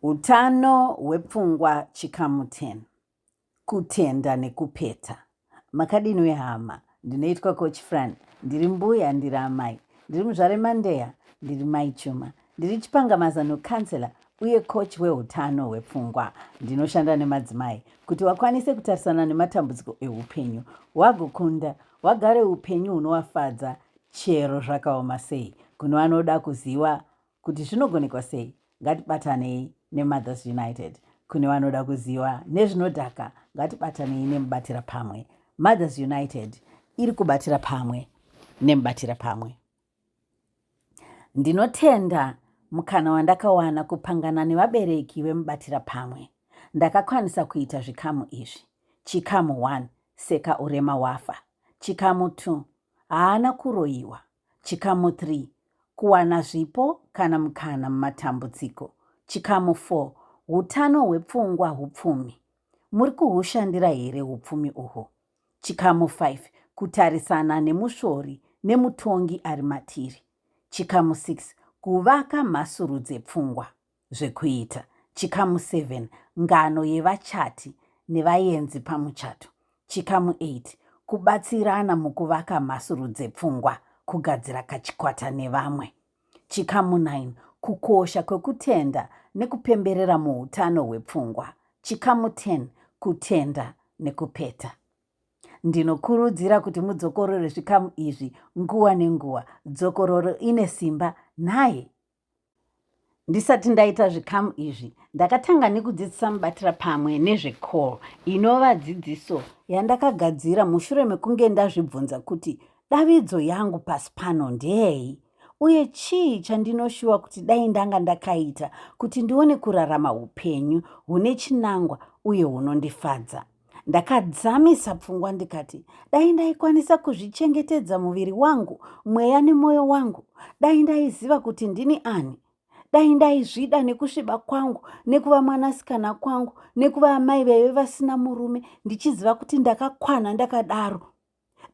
Utano hwepfungwa chikamu 10. Kutenda nekupeta. Makadini wehama? Ndinoitwa Coach Fran. Ndiri mbuya, ndiri amai. Ndiri muzvare Mandeya, ndiri mai Chuma. Ndiri chipanga mazano counselor uye coach weutano hwepfungwa. Ndinoshanda nemadzimai kuti wakwanise kutarisana nematambudziko eupenyu, wagokunda, wagare upenyu hunovafadza chero zvakaoma sei. Kune vanoda kuziva kuti zvinogonekwa sei ngatibatanei nemothers united kune vanoda kuziva nezvinodhaka ngatibatanei nemubatira pamwe mothers united iri kubatira pamwe nemubatira pamwe ndinotenda mukana wandakawana kupangana nevabereki vemubatira pamwe ndakakwanisa kuita zvikamu izvi chikamu 1 seka urema wafa chikamu 2 haana kuroyiwa Chikamu 3 Kuwana zvipo kana mukana mumatambudziko. Chikamu 4 Utano hwepfungwa hupfumi. Muri kuhushandira here upfumi uhwo? Chikamu 5 Kutarisana nemusvori nemutongi ari matiri. Chikamu 6 Kuvaka mhasuru dzepfungwa. zvekuita. Chikamu 7 Ngano yevachati nevayenzi pamuchato. Chikamu 8 Kubatsirana mukuvaka mhasuru dzepfungwa, kugadzira kachikwata nevamwe. Chikamu 9 Kukosha kwekutenda nekupemberera muutano hwepfungwa. Chikamu 10 Kutenda nekupeta. Ndinokurudzira kuti mudzokorore zvikamu izvi nguva nenguva. Dzokororo ine simba nhai? Ndisati ndaita zvikamu izvi, ndakatanga nekudzidzisa mubatira pamwe nezvecall inova dzidziso yandakagadzira mushure mekunge ndazvibvunza kuti davidzo yangu pasi pano ndeyei uye chii chandinoshuwa kuti dai ndanga ndakaita kuti ndione kurarama upenyu hune chinangwa uye hunondifadza. ndakadzamisa pfungwa ndikati dai ndaikwanisa kuzvichengetedza muviri wangu mweya nemwoyo wangu dai ndaiziva kuti ndini ani dai ndaizvida nekusviba kwangu nekuva mwanasikana kwangu nekuva amai vaive vasina murume ndichiziva kuti ndakakwana ndakadaro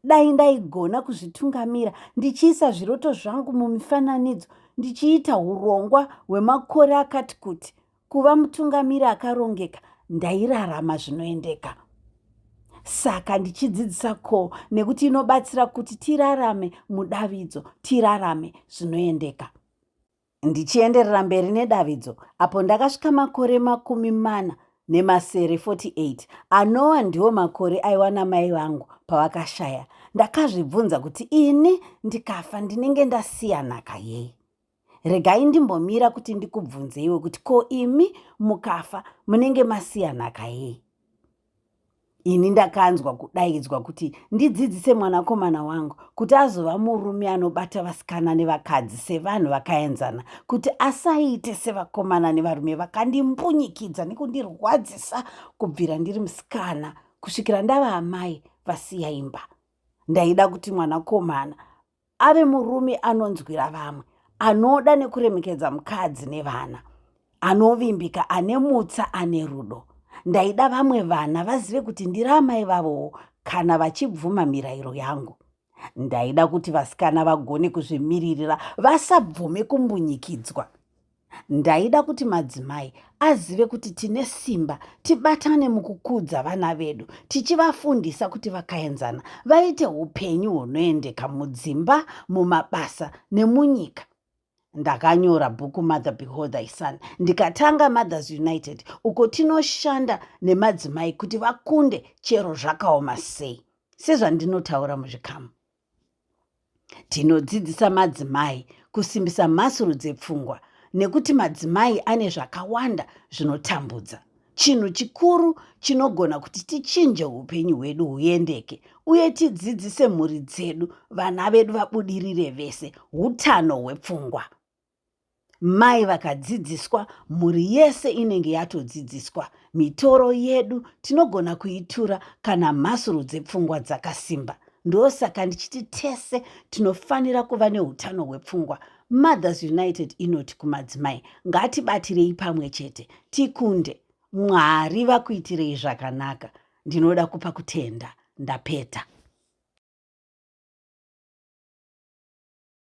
dai ndaigona kuzvitungamira ndichiisa zviroto zvangu mumifananidzo ndichiita urongwa hwemakore akati kuti kuva mutungamiri akarongeka ndairarama zvinoendeka saka ndichidzidzisa ko nekuti inobatsira kuti tirarame mudavidzo tirarame zvinoendeka Ndichienderera mberi nedavidzo, apo ndakasvika makore makumi mana nemasere 48 anowa ndiwo makore aiwa namai vangu pavakashaya, ndakazvibvunza kuti ini ndikafa ndinenge ndasiya nhaka yei. Regai ndimbomira kuti ndikubvunzeiwe kuti ko imi mukafa munenge masiya nhaka yei? ini ndakanzwa kudaidzwa kuti ndidzidzise mwanakomana wangu kuti azova murume anobata vasikana nevakadzi sevanhu vakaenzana kuti asaite sevakomana nevarume vakandimbunyikidza nekundirwadzisa kubvira ndiri musikana kusvikira ndava amai vasiya imba ndaida kuti mwanakomana ave murume anonzwira vamwe anoda nekuremekedza mukadzi nevana anovimbika ane mutsa ane rudo ndaida vamwe vana vazive kuti ndiri amai vavowo kana vachibvuma mirayiro yangu ndaida kuti vasikana vagone kuzvimiririra vasabvume kumbunyikidzwa Ndaida kuti madzimai azive kuti tine simba, tibatane mukukudza vana vedu, tichivafundisa kuti vakaenzana vaite upenyu hunoendeka mudzimba, mumabasa nemunyika. Ndakanyora bhuku Mother Behold Thy Son ndikatanga Mothers United uko tinoshanda nemadzimai kuti vakunde chero zvakaoma sei sezvandinotaura muzvikamu. Tinodzidzisa madzimai kusimbisa mhasuru dzepfungwa nekuti madzimai ane zvakawanda zvinotambudza. Chinhu chikuru chinogona kuti tichinje upenyu hwedu huendeke uye tidzidzise mhuri dzedu vana vedu vabudirire vese utano hwepfungwa. mai vakadzidziswa mhuri yese inenge yatodzidziswa mitoro yedu tinogona kuitura kana mhasuru dzepfungwa dzakasimba ndosaka ndichiti tese tinofanira kuva neutano hwepfungwa mothers united inoti kumadzimai ngatibatirei pamwe chete tikunde mwari vakuitirei zvakanaka ndinoda kupa kutenda ndapeta